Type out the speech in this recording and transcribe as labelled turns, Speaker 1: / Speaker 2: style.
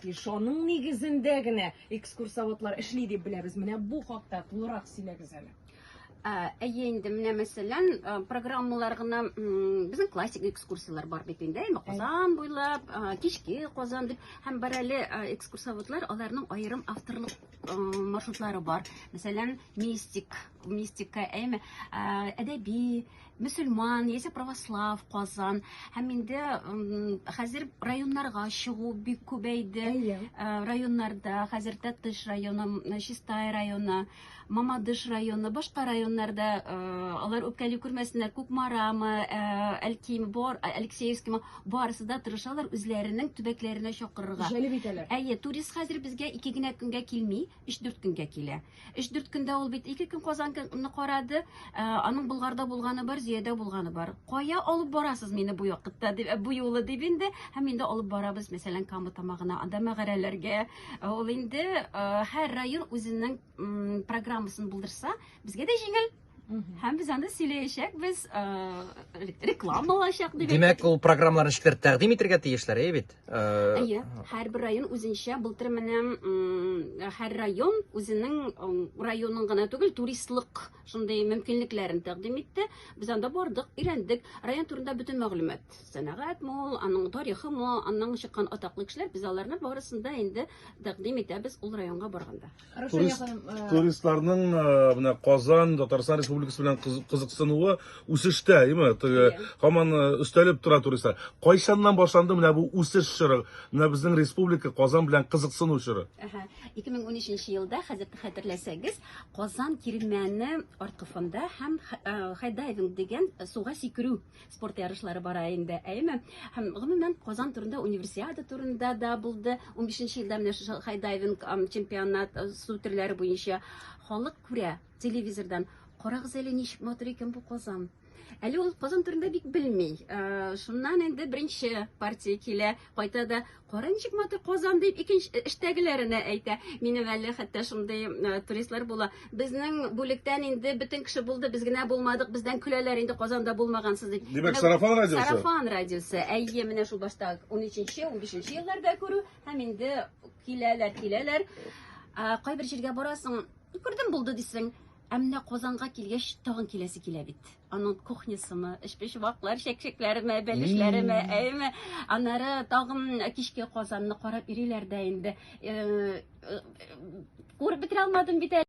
Speaker 1: И шоның нигезендә генә экскурсоводлар эшли дип беләбез. Менә бу хакта тулырак сөйләгез әле. Әйе
Speaker 2: инде менә мәсәлән программалар гына безнең классик экскурсияләр бар бит инде әйме Казан буйлап кичке Казан дип һәм бар әле экскурсоводлар аларның аерым авторлык маршрутлары бар мәсәлән мистик мистика әйме әдәби мөселман яисә православ казан һәм инде хәзер районнарга чыгу бик күбәйде э, районнарда хәзер тәтыш районы чистай районы мамадыш районы башка районнарда э, алар үпкәли күрмәсеннәр күкмарамы э, әлкими бор алексеевскимы барысы да тырышалар үзләренең төбәкләренә чакырырга җәлеп итәләр әйе
Speaker 1: турист хәзер
Speaker 2: безгә ике генә көнгә килми 3-4 көнгә килә. 3-4 көндә ул бит 2 көн Казанны карады, ә, аның Болгарда булганы бар, Зиядә булганы бар. Кая алып барасыз мине бу якытта дип, бу юлы дип инде, һәм инде алып барабыз, мәсәлән, Кама тамагына, анда мәгарәләргә. Ә, ул инде һәр район үзенең программасын булдырса, безгә дә җиңел. Һәм без анда сөйләячәкбез, э, реклама булачак дип. Димәк, ул программаларны
Speaker 3: ничектер тәкъдим итәргә тиешләр, әйе бит? Э, әйе,
Speaker 2: һәрбер район үзенчә былтыр менә һәр район үзенең районын гына түгел, туристлык шундый мөмкинлекләрен тәкъдим итте. Без анда бардык, өйрәндек. Район турында бөтен мәгълүмат. Сәнәгать мул, аның тарихы мул, аның чыккан атаклы кешеләр, без аларны барысын да инде тәкъдим итәбез ул районга барганда. Турист, э,
Speaker 4: туристларның э, менә Казан, Татарстан Республикасы белән кызыксынуы үсештә, әйеме? Теге һаман э, өстәлеп тора туристлар. Кайчаннан башланды менә бу үсеш чоры? Менә безнең республика Казан белән кызыксыну чоры. Әһә.
Speaker 2: 2013 елда, хәзер хәтерләсәгез, Казан кирмәне арткы фонда һәм хайдайвинг дигән суга сикерү спорт ярышлары бара инде әйеме һәм гомумән казан турында универсиада турында да булды 15 бишенче елда менә шушы хайдайвинг чемпионат э, су төрләре буенча халык күрә телевизордан карагыз әле ничек матур икән бу казан әле ул казан турында бик белми э, шуннан инде беренче партия килә кайта да Карын чыкмады Казан дип икенче э, эштәгеләренә әйтә. Минем әле хәтта шундый э, туристлар була. Безнең бүлектән инде бөтен кеше булды, без генә булмадык, бездән көләләр инде Казанда булмагансыз дип. Димәк, сарафан радиосы?
Speaker 4: Сарафан радиосы.
Speaker 2: Әйе, менә шул башта 13-нче, 15-нче елларда күрү һәм инде киләләр, киләләр. Кайбер җиргә барасың, күрдем булды дисең. Ә менә Казанга килгәч, тагын киләсе килә бит. Аның кухнясымы, эчпочмаклар, чәкчәкләреме, бәлешләреме, әйеме? Аннары тагын кичке Казанны карап йөриләр дә инде. Э, э, Күреп бетерә алмадым бит әле.